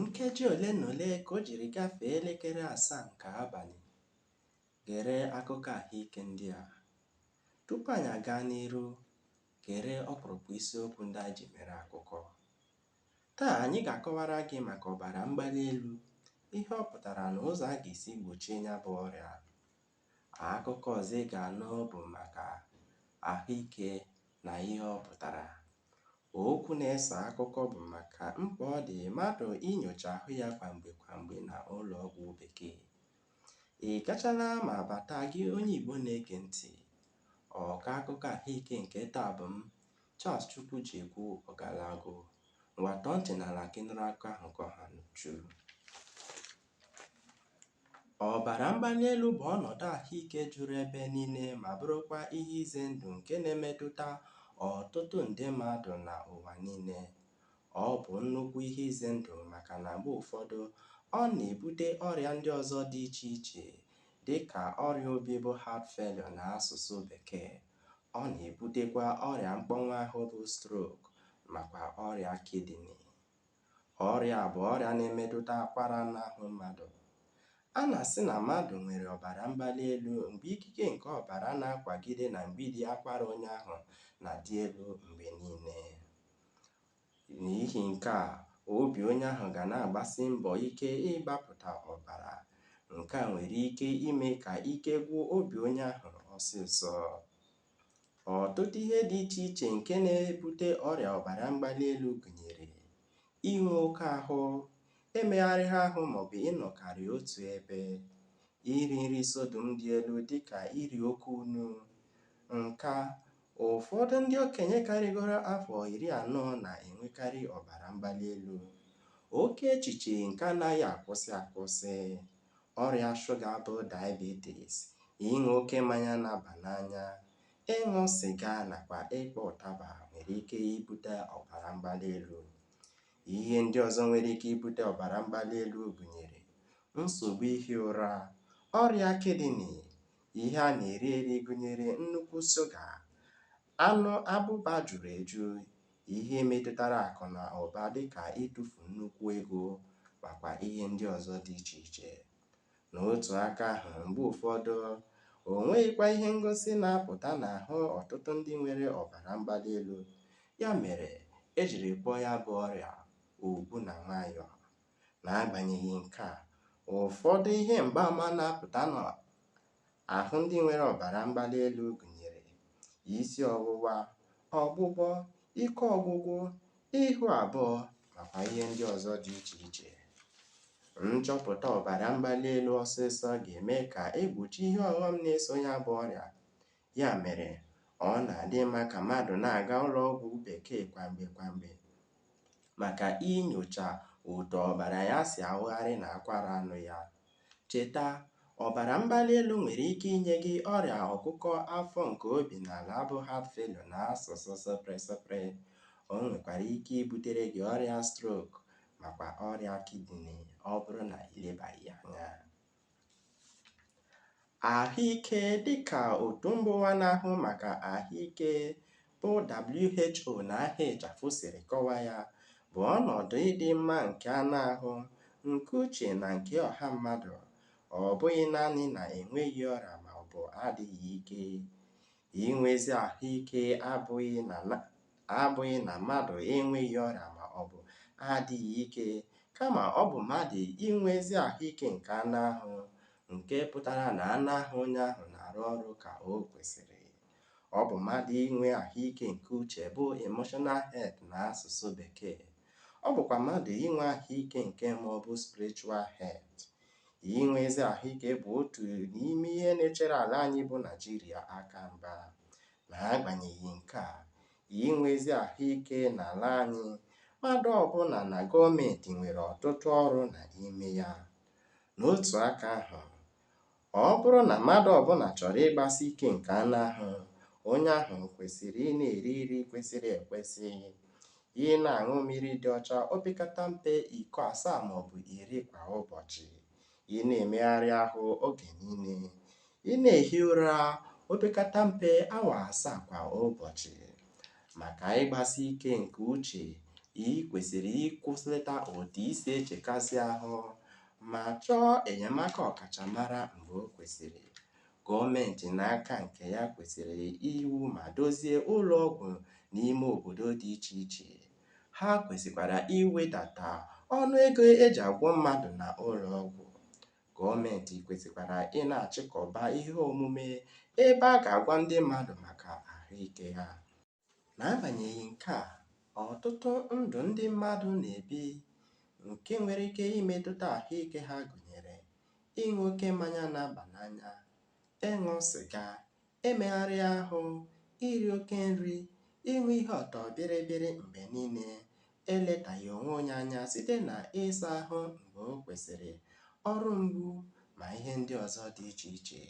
Nkeji ole na ole ka o jiri gafee elekere asaa nke abalị. Gere akụkọ ahụike ndị a. Tupu anyị agaa n'iru, gere ọkpụrụkpụ isiokwu ndị anyị ji mere akụkọ. Taa anyị ga-akọwara gị maka ọbara mgbali elu, ihe ọ pụtara na ụzọ a ga-esi gbochie ya bụ ọrịa. Akụkọ ọzọ ị ga-anụ bụ maka ahụike na ihe ọ pụtara. Okwu na-eso akụkọ bụ maka mkpa ọ dị mmadụ inyocha ahụ ya kwa mgbe kwa mgbe na ụlọ ọgwụ bekee. Ị gachala ma bata gị onye Igbo na-ege ntị. Ọkọ akụkọ ahụike nke taa bụ m, Charles Chukwujekwu Ogalagu. Ngwa tọọ ntị n'ala ka ị nụrụ akụkọ ahụ ka ọ ha n'uju. Ọbara mgbali elu bụ ọnọdụ ahụike juru ebe niile ma bụrụkwa ihe ize ndụ nke na-emetụta ọtụtụ nde mmadụ na ụwa niile. Ọ bụ nnukwu ihe ize ndụ maka na mgbe ụfọdụ, ọ na-ebute ọrịa ndị ọzọ dị iche iche dị ka ọrịa obi bụ heart failure n'asụsụ Bekee. Ọ na-ebutekwa ọrịa mkpọnwụ ahụ bụ stroke makwa ọrịa kidney. Ọrịa a bụ ọrịa na-emetụta akwara n'ahụ mmadụ. A na-asị na mmadụ nwere ọbara mgbali elu mgbe ikike nke ọbara na-akwagide na mgbidi akwara onye ahụ na-adị elu mgbe niile. N'ihi nke a, obi onye ahụ ga na-agbasi mbọ ike ịgbapụta ọbara. Nke a nwere ike ime ka ike gwụ obi onye ahụ ọsịsọ. Ọtụtụ ihe dị iche iche nke na-ebute ọrịa ọbara mgbali elu gụnyere inwe oke ahụ, emegharịghị ahụ maọbụ ịnọkarị otu ebe, iri nri sodium dị elu dịka iri oke unu, nka, ụfọdụ ndị okenye karịgoro afọ iri anọ na-enwekarị ọbara mgbali elu, oke echiche nke anaghị akwụsị akwụsị. ọrịa shuga bụ diabetes, ịṅụ oke mmanya na-aba n'anya, ịṅụ sịga nakwa ịkpọ ụtaba nwere ike ibute ọbara mgbali elu. Ihe ndị ọzọ nwere ike ibute ọbara mgbali elu gụnyere nsogbu ihi ụra, ọrịa kidney, ihe a na-eri eri gụnyere nnukwu shuga, Anụ abụba juru eju, ihe metụtara akụ na ụba dị ka ịtụfu nnukwu ego makwa ihe ndị ọzọ dị iche iche. N'otu aka ahụ, mgbe ụfọdụ, o nweghịkwa ihe ngosi na-apụta n'ahụ ọtụtụ ndị nwere ọbara mgbali elu, ya mere e jiri kpọọ ya bụ ọrịa ogbu na nwayọọ. N'agbanyeghị nke a, ụfọdụ ihe mgbaama na-apụta Ahụ ndị nwere ọbara mgbali elu gụnyere isi ọwụwa, ọgbụgbọ, ike ọgwụgwụ, ihu abụọ nakwa ihe ndị ọzọ dị iche iche. Nchọpụta ọbara mgbali elu ọsịsọ ga-eme ka e gbochie ihe ọghọm na-eso ya bụ ọrịa. Ya mere, ọ na-adị mma ka mmadụ na-aga ụlọọgwụ bekee kwa mgbe kwa mgbe maka inyocha otu ọbara ya si awụgharị n'akwara anụ ya. Cheta, ọbara mgbali elu nwere ike inye gị ọrịa ọkụkụ afọ nke obi n'ala bụ heart failure n'asụsụ sụpịrị sụpịrị. O nwekwara ike ibutere gị ọrịa stroke makwa ọrịa kidney ọ bụrụ na i lebaghị ya anya. Ahụike dịka otu mbaụwa na-ahụ maka ahụike bụ WHO n'aha ịchafụ siri kọwaa ya, bụ ọnọdụ ịdị mma nke anụ ahụ, nke uche na nke ọha mmadụ, ọ bụghị naanị na enweghị ọrịa maọbụ adịghị ike. Inwe ezi ahụ ike abụghị na mmadụ enweghị ọrịa ma ọ bụ adịghị ike, kama ọ bụ mmadụ inwe ezi ahụ ike nke anụ ahụ, nke pụtara na anụ ahụ onye ahụ na-arụ ọrụ ka o kwesịrị. Ọ bụ mmadụ inwe ahụ ike nke uche bụ emotional health na asụsụ Bekee. Ọ bụkwa mmadụ inwe ahụ ike nke mmụọ bụ spiritual health. Inwe ezi ahụike bụ otu n'ime ihe na-echere ala anyị bụ Naijiria aka mgba. N'agbanyeghị nke a, inwe ezi ahụike n'ala anyị, mmadụ ọbụla na gọọmenti nwere ọtụtụ ọrụ na ime ya. N'otu aka ahụ, ọ bụrụ na mmadụ ọbụla chọrọ ịgbasi ike nke anụ ahụ, onye ahụ kwesịrị ị na-eri nri kwesịrị ekwesị, Ị na-aṅụ mmiri dị ọcha opekata mpe iko asaa ma ọ bụ iri kwa ụbọchị. Ị na-emegharị ahụ oge niile. Ị na-ehi ụra opekata mpe awa asaa kwa ụbọchị. Maka ịgbasi ike nke uche, i kwesịrị ịkwụsịlata otu i si echekasị ahụ ma chọọ enyemaka ọkachamara mgbe o kwesịrị. Gọọmentị n'aka nke ya kwesịrị iwu ma dozie ụlọ ọgwụ n'ime obodo dị iche iche. Ha kwesịkwara iwedata ọnụ ego e ji agwọ mmadụ na ụlọ ọgwụ. Gọọmentị kwesịkwara ị na-achịkọba ihe omume ebe a ga-agwa ndị mmadụ maka ahụike ha. N'agbanyeghị nke a, ọtụtụ ndụ ndị mmadụ na-ebi nke nwere ike imetụta ahụike ha gụnyere ịṅụ oke mmanya na-aba n'anya, ịṅụ sịga, emegharị ahụ, iri oke nri, ịṅụ ihe ọtọ bịrịbịrị mgbe niile, eletaghị onwe onye anya site na ịsa ahụ mgbe o kwesịrị, ọrụ mgbu, ma ihe ndị ọzọ dị iche iche.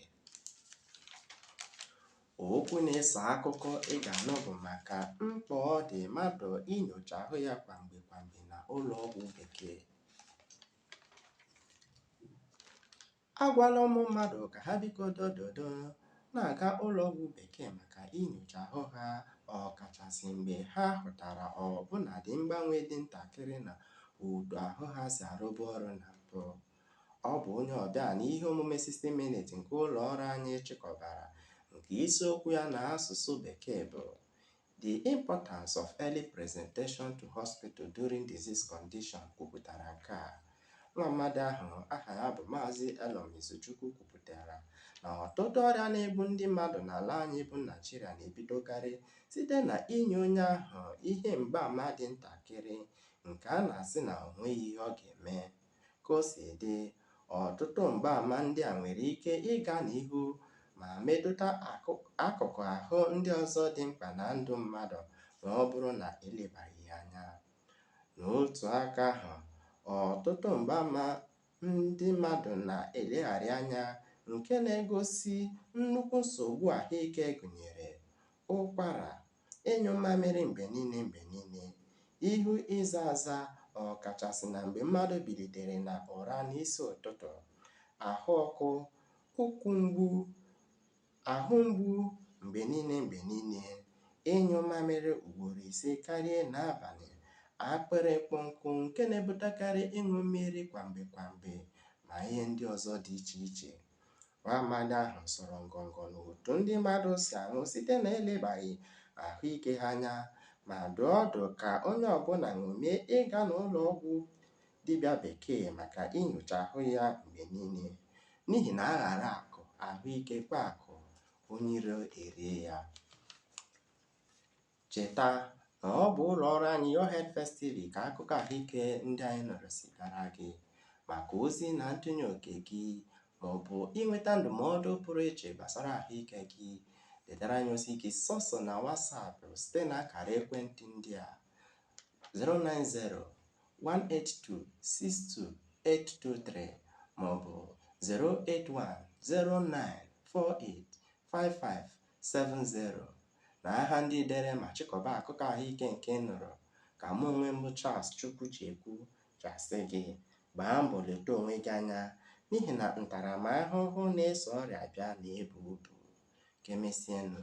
Okwu na-eso akụkọ ị ga-anụ bụ maka mkpa ọ dị mmadụ inyocha ahụ ya kwa mgbe kwa mgbe na ụlọ ọgwụ bekee. Agwala ụmụ mmadụ ka ha biko dododo na-aga ụlọ ọgwụ bekee maka inyocha ahụ ha ọkachasị mgbe ha hụtara ọbụnadị mgbanwe dị ntakịrị na otu ahụ ha si arụbu ọrụ na mbụ. Ọ bụ onye ọbịa n'ihe omume 60 Minutes nke ụlọ ọrụ anyị chịkọbara nke isiokwu ya na asụsụ Bekee bụ The Importance of Early Presentation to Hospital During Disease Condition kwupụtara nke a. Nwa mmadụ ahụ aha ya bụ Maazị Elom Izuchukwu kwupụtara na ọtụtụ ọrịa na-egbu ndị mmadụ n'ala anyị bụ Naịjirịa na-ebidokarị site na inye onye ahụ ihe mgbaama dị ntakịrị nke a na-asị na o nweghị ihe ọ ga-eme. Ka o si dị, ọtụtụ mgbaama ndị a nwere ike ịga n'ihu ma metụta akụkụ ahụ ndị ọzọ dị mkpa na ndụ mmadụ ma ọ bụrụ na e lebaghị ya anya. N'otu aka ahụ, ọtụtụ mgbaama ndị mmadụ na-elegharị anya nke na-egosi nnukwu nsogbu ahụike gụnyere, ụkwara, ịnyụ mamịrị mgbe niile mgbe niile, ihu ịza aza ọkachasị na mgbe mmadụ bilitere na ụra n'isi ụtụtụ, ahụ ọkụ, ụkwụ mgbu, ahụ mgbu mgbe niile mgbe niile, ịnyụ mamịrị ugboro ise karịa n'abalị, akpịrị ịkpọ nkụ nke na-ebutekarị ịṅụ mmiri kwa mgbe kwa mgbe, ma ihe ndị ọzọ dị iche iche. Nwa amadi ahụ sọrọ ngọngọ n'otu ndị mmadụ si anwụ site na elebaghị ahụike ha anya ma dụọ ọdụ ka onye ọbụla ṅomie ịga n'ụlọ ọgwụ dibịa bekee maka inyocha ahụ ya mgbe niile n'ihi na a ghara akụ ahụike kpaa akụ onye iro erie ya. Cheta na ọ bụ ụlọọrụ anyị Your Health First TV ka akụkọ ahụike ndị anyị nụrụ si bịara gị. Maka ozi na ntụnye oke gị maọbụ inweta ndụmọdụ pụrụ iche gbasara ahụike gị, detara anyị ozi gị sọsọ na WhatsApp site na akara ekwentị ndị a 090 182 62823 maọbụ 081 09 48 55 70. na aha ndị dere ma chịkọba akụkọ ahụike nke ị nụrụ, ka mụ onwe m bụ Charles Chukwujekwu ji asị gị, gbaa mbọ leta onwe gị anya n'ihi na ntaramahụhụ na-eso ọrịa abịa na-ebu ibu. Ka emesienụ.